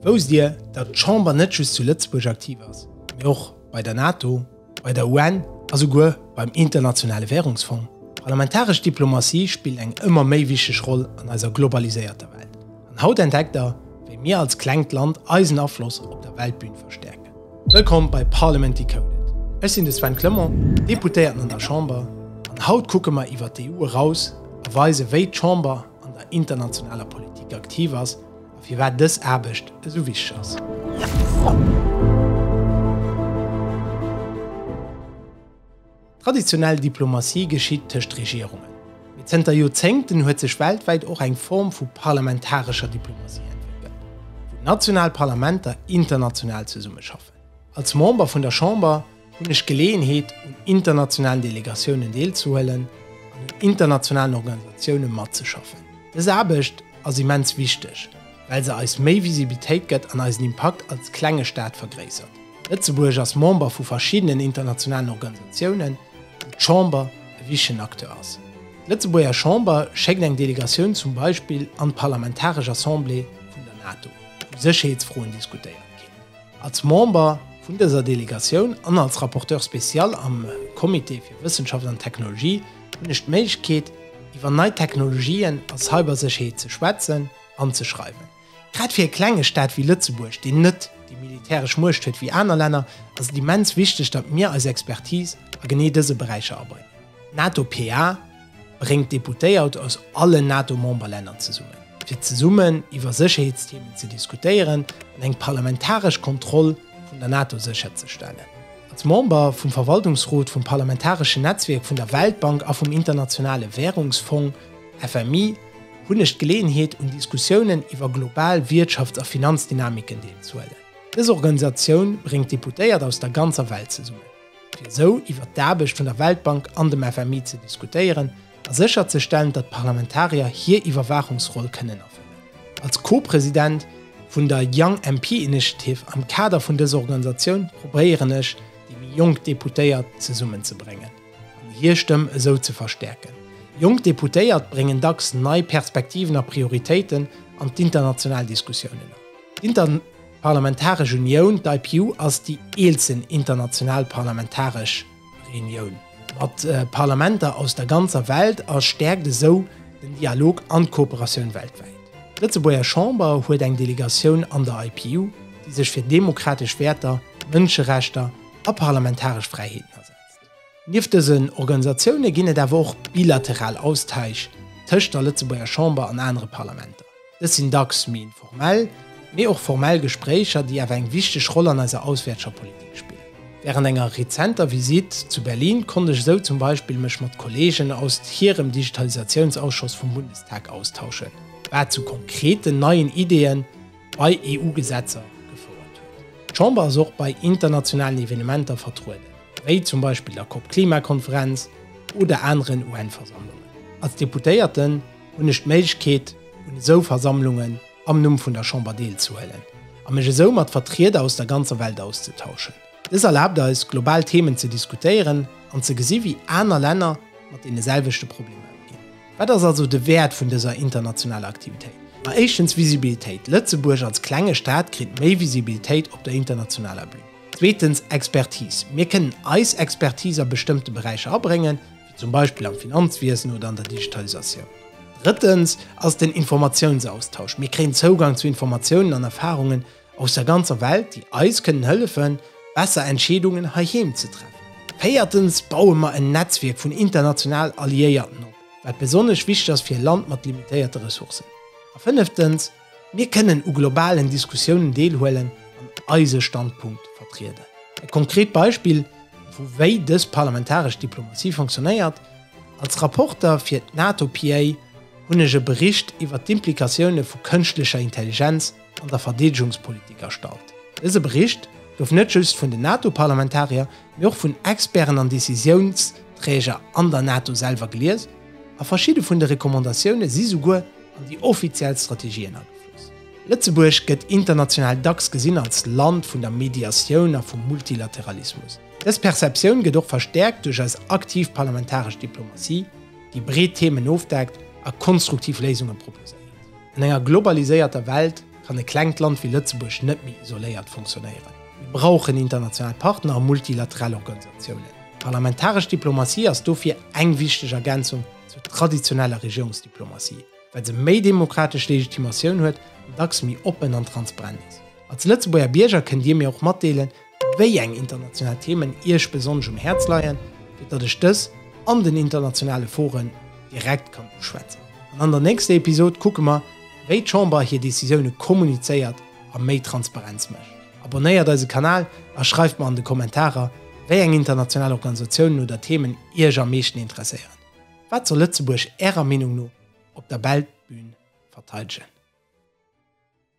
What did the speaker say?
Wousst Dir, datt d'Chamber net just zu Lëtzebuerg aktiv ass, mee och bei der NATO, bei der UN a souguer beim Internationale Währungsfong? D'parlamentaresch Diplomatie spillt eng ëmmer méi wichteg Roll an eiser globaliséierter Welt. An haut entdeckt Der, wéi mir als klengt Land eisen Afloss op der Weltbün verstäerken. Wëllkomm bei Parliament Decoded. Ech sinn de Sven Clement, Deputéierten an der Chamber, an haut kucke mer iwwer d'EU eraus a weise wéi d'Chamber an der internationaler Politik aktiv ass, a firwat dës Aarbecht esou wichteg ass. Traditionell Diplomatie geschitt tëscht Regierungen, mee zënter Joerzéngten huet sech weltwäit och eng Form vu parlamentarescher Diplomatie entwéckelt, wou national Parlamenter international zesummeschaffen. Als Member vun der Chamber hunn ech d'Geleeënheet, un internationalen Delegatiounen deelzehuelen an un internationalen Organisatioune matzeschaffen. Dës Aarbecht ass immens wichteg, well se eis méi Visibilitéit gëtt an eisen Impakt als klenge Staat vergréissert. Lëtzebuerg ass Member vu verschiddenen internationalen Organisatiounen, wou d'Chamber e wichtegen Acteur ass. D'Lëtzebuerger Chamber schéckt eng Delegatioun zum Beispill an d'Parlamentaresch Assemblée vun der NATO, wou Sécherheetsfroen diskutéiert ginn. Als Member vun dëser Delegatioun an als Rapporteur spécial am Comité fir Wëssenschaft an Technologie hunn ech d'Méiglechkeet, iwwer nei Technologien a Cybersécherheet ze schwätzen an ze schreiwen. Grad fir e klenge Staat wéi Lëtzebuerg, deen net déi militäresch Muecht huet wéi aner Länner, ass et immens wichteg, datt mir eis Expertise a genee dëse Beräicher abréngen. NATO PA. bréngt d'Deputéiert aus allen NATO-Memberlänner zesummen, fir zesummen iwwer Sécherheetsthemen ze diskutéieren an eng parlamentaresch Kontroll vun der NATO sécherzestellen. Als Member vum Verwaltungsrot vum parlamentareschen Netzwierk vun der Weltbank a vum Internationale Wärungsfong, FMI, hunn ech d'Geleeënheet, un Diskussiounen iwwer global Wiertschafts a Finanzdynamiken deelzehuelen. Dës Organisatioun bréngt d'Deputéiert aus der ganzer Welt zesummen. fir esou iwwert d'Aarbecht vun der Weltbank an dem FMI ze diskutéieren a sécherzestellen, datt d'Parlamentarier hir Iwwerwaachungsroll kënnen erfëllen. Als Co-President vun der Young MP Initiative am Kader vun dëser Organisatioun probéieren ech, déi méi jonk Deputéiert zesummenzebréngen an hir Stëmm esou ze verstäerken. Jonk Deputéiert bréngen dacks nei Perspektiven a Prioritéiten an d'international Diskussiounen an. D'Parlamentaresch Unioun, d'IPU, ass déi eelsten international parlamentaresch Reunioun mat Parlamenter aus der ganzer Welt a stäerkt esou den Dialog an d'Kooperatioun weltwäit. D'Lëtzebuerger Chamber huet eng Delegatioun an der IPU, déi sech fir demokratesch Wäerter, Mënscherechter a parlamentaresch Fräiheeten asetzt. Nieft dësen Organisatioune ginn et awer och bilateral Austaich tëscht der Lëtzebuerger Chamber an anere Parlamenter. Dës sinn dacks méi informell, mee och formell Gespréicher, déi awer eng wichteg Roll an eiser auswäertscher Politik spillen. Wärend enger rezenter Visitt zu Berlin konnt ech esou zum Beispill mech mat Kolleegen aus hirem Digitalisatiounsausschoss vum Bundestag austauschen, wat zu konkreten neien Ideeën, bei EU-Gesetzer gefouert huet. D'Chamber ass och bei internationalen Evenementer vertrueden, wéi zum Beispill der COP-Klimakonferenz oder aneren UN-Versammlungen. Als Deputéierten hunn ech d'Méiglechkeet, un esou Versammlungen am Numm vun der Chamber deelzehuelen a mech esou mat Vertrieder aus der ganzer Welt auszetauschen. Dës erlaabt eis, global Themen ze diskutéieren an ze gesi wéi aner Länner mat deene selwechte Problemer ëmginn. Wat ass also de Wäert vun dëser internationaler Aktivitéit? Ma éischtens Visibilitéit, Lëtzebuerg als klenge Staat kritt méi Visibilitéit op der internationaler Bühn. Zweetens Expertise, mir kënnen eis Expertise a bestëmmte Beräicher abréngen, wéi zum Beispill am Finanzwiesen oder an der Digitalisatioun. Drëttens ass den Informatiounsaustausch, mir kréien Zougang zu Informatiounen an Erfarungen, aus der ganzer Welt, déi eis kënnen hëllefen, besser Entscheedungen heiheem ze treffen. Véiertens baue mer en Netzwierk vun international Alliéierten op, wat besonnesch wichteg ass fir e Land mat limitéierte Ressourcen. A fënneftens, mir kënnen u globalen Diskussiounen deelhuelen an eise Standpunkt vertrieden. E konkret Beispill, vu wéi dës parlamentaresch Diplomatie fonctionnéiert, Als Rapporter fir d'NATO-PA hunn ech e Bericht iwwert d'Implikatioune vu kënschtlecher Intelligenz, an der Verdeedegungspolitik erstallt. Dëse Bericht gouf net just vun den NATO-Parlamentarier, mee och vun Experten an Decisiounsträger an der NATO selwer gelies, a verschidde vun de Recommandatioune si souguer an déi offiziell Strategien agefloss. Lëtzebuerg gëtt international dacks gesinn als Land vun der Mediatioun a vum Multilateralismus. Dës Perceptioun gëtt och verstäerkt duerch eis aktiv parlamentaresch Diplomatie, déi breet Themen ofdeckt a konstruktiv Léisunge proposéiert. An enger globaliséierter Welt kann e klengt Land wéi Lëtzebuerg net méi isoléiert funktionéieren. Mir brauchen international Partner a multilateral Organisatiounen. D'parlamentaresch Diplomatie ass dofir eng wichteg Ergänzung zur traditioneller Regierungsdiplomatie, well se méi demokratesch Legitimatioun huet an dacks méi oppen an transparent ass. Als Lëtzebuerger Bierger kënnt Dir mir och matdeelen, wéi eng international Themen Iech besonnesch um Häerz leien, fir datt ech dës an den internationale Foren direkt kann uschwätzen. An an der nächster Episod kucke mer, wéi d'Chamber hir Decisioune kommunizéiert a méi Transparenz mécht. Abonnéiert eise Kanal a schreift mer an de Kommentarer, wéi eng international Organisatiounen oder Themen Iech am meeschten interesséieren. Wat soll Lëtzebuerg Ärer Meenung no op der Weltbün verteidegen?